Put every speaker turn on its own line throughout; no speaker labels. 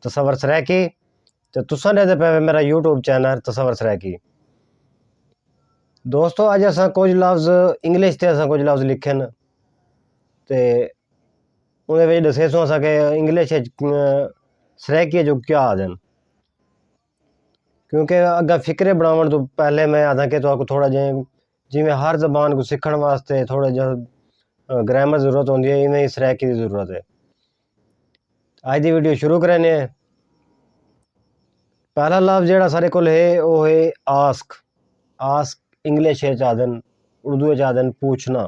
تصور سرائکی تو تسا نے دے پہ میرا یوٹیوب چینل تصور سرائکی دوستو آج اسا کچھ لفظ انگلش تے اسا کچھ لفظ لکھن تے اوندے وچ ڈسیسوں اساں کہ انگلش اچ سرائیکی جو کیا آدن کیونکہ اگاں فقرے بناون توں پہلے میں آدھاں کہ تہاکوں تھوڑا جے جی میں ہر زبان کوں سکھن واسطے تھوڑا جے گرامر ضرورت ہوندی ہے ایویں ہی سرائیکی دی ضرورت ہے اج دی ویڈیو شروع کرینے ہیں پہلا لفظ جیڑا سارے کول ہے او ہے آسک آسک انگلش اچ آدن اردو اچ آدن پوچھنا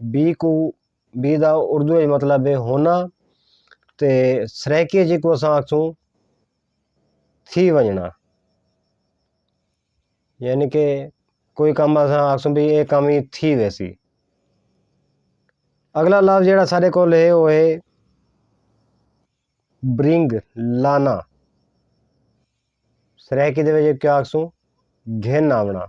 بی کوں بی دا اردو اچ مطلب ہے ہونا تے سرائیکی اچ جیکوں اساں آکھسوں تھی ونجنڑاں یعنی کہ کوئی کم اساں آکھسوں بھئی اے کم تھی ویسی اگلا لفظ جیہڑا ساڈے کول ہے او ہے برنگ لانا سرائیکی دے وچ کیا آکھسوں گھن آونڑاں۔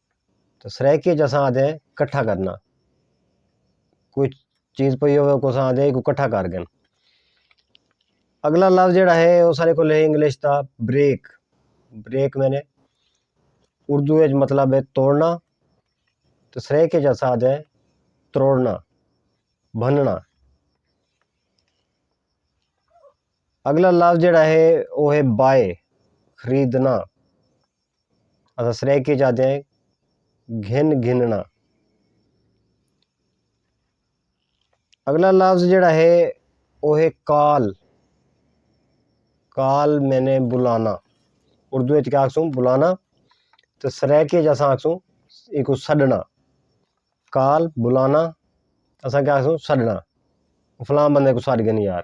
تو سرائیکی اچ اساں آندے کٹھا کرنا کوئی چیز پئی ہووے اوکوں اساں آندے ایکوں کٹھا کر گن اگلا لفظ جیڑھا ہے او ساڈے کول ہے انگلش دا بریک بریک معنی اردو اچ مطلب ہے توڑنا تے سرائیکی اچ اساں آندے تروڑنا بھننا اگلا لفظ جیڑھا ہے او ہے بائے خریدنا۔ اساں سرائیکی چا آندے ہیں گھن گھننا اگلا لفظ جڑا ہے او ہے کال کال میں نے بلانا اردو اچ کیا آکھسوں بلانا تے سرائیکی اچ اساں آکھسوں ایکوں سڈنا کال بلانا اساں کیا آکھسوں سڈنا فلاں بندے کوں سڈ گھنی یار۔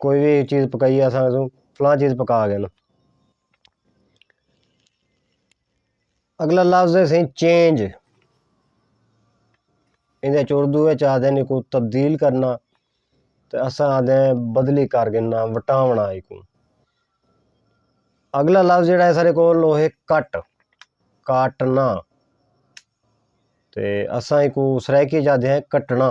کوئی وی چیز پکائیے اساں آکھسوں فلاں چیز پکا ڳئن۔ اڳلا لفظ ہے سئیں چینج ایندا چ اردو اچ آکھدن ہیکو تبدیل کرنا تے اساں آکھدے ہیں بدلی کر گھننا وٹاوݨا ہیکوں۔ اڳلا لفظ جیڑھا ہے اساݙے کول او ہے کٹ کاٹنا تے اساں ہیکوں سرائیکی اچ آکھدے ہیں کٹنا۔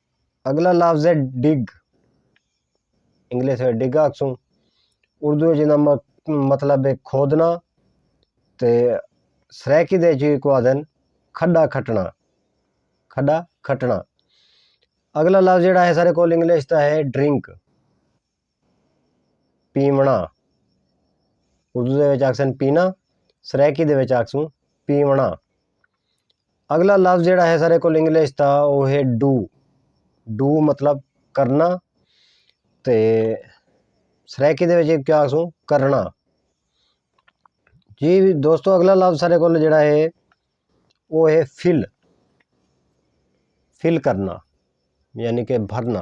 اگلا لفظ ہے ڈگ انگلش وچ ڈگ آکھسوں اردو وچ ایندا مطلب ہے کھودݨا تے سرائیکی دے وچ اینکوں آکھدن کھݙا کھٹݨا کھݙا کھٹݨا اگلا لفظ جیڑھا ہے ساݙے کول انگلش دا ہے ڈرنک پیوݨا اردو دے وچ آکھسن پینا سرائیکی دے وچ آکھسوں پیوݨا اگلا لفظ جیڑا ہے سارے کول انگلش دا او ہے ڈو ڈو مطلب کرنا تے سرائیکی دے وچ کیا آکھسوں کرنا جی دوستو اگلا لفظ سارے کول جیڑا ہے او ہے فل فل کرنا یعنی کہ بھرنا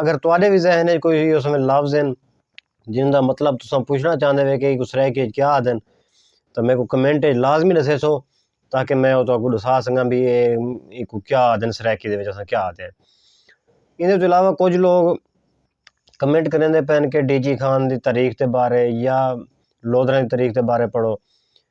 اگر تہاݙے وی ذہن اچ کوئی اس ویلے لفظ ہن جنہاں دا مطلب تساں پچھݨا چاہندے وے کہ ایکوں سرائیکی اچ کیا آہدن تاں میکوں کمنٹ اچ لازمی ݙسیسو تاکہ میں او تہاکوں ݙسا سڳاں بھئی اے ایکوں کیا آہدن سرائیکی دے وچ اساں کیا آہدے ہن۔ ایندے توں علاوہ کجھ لوگ کمنٹ کریندے پئے ہن کہ ڈی جی خان دی تاریخ دے بارے یا لودھراں دی تاریخ دے بارے پڑھو۔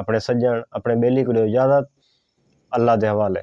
اپݨے سڄݨ اپݨے ٻیلی کوں ݙیو اجازت اللہ دے حوالے۔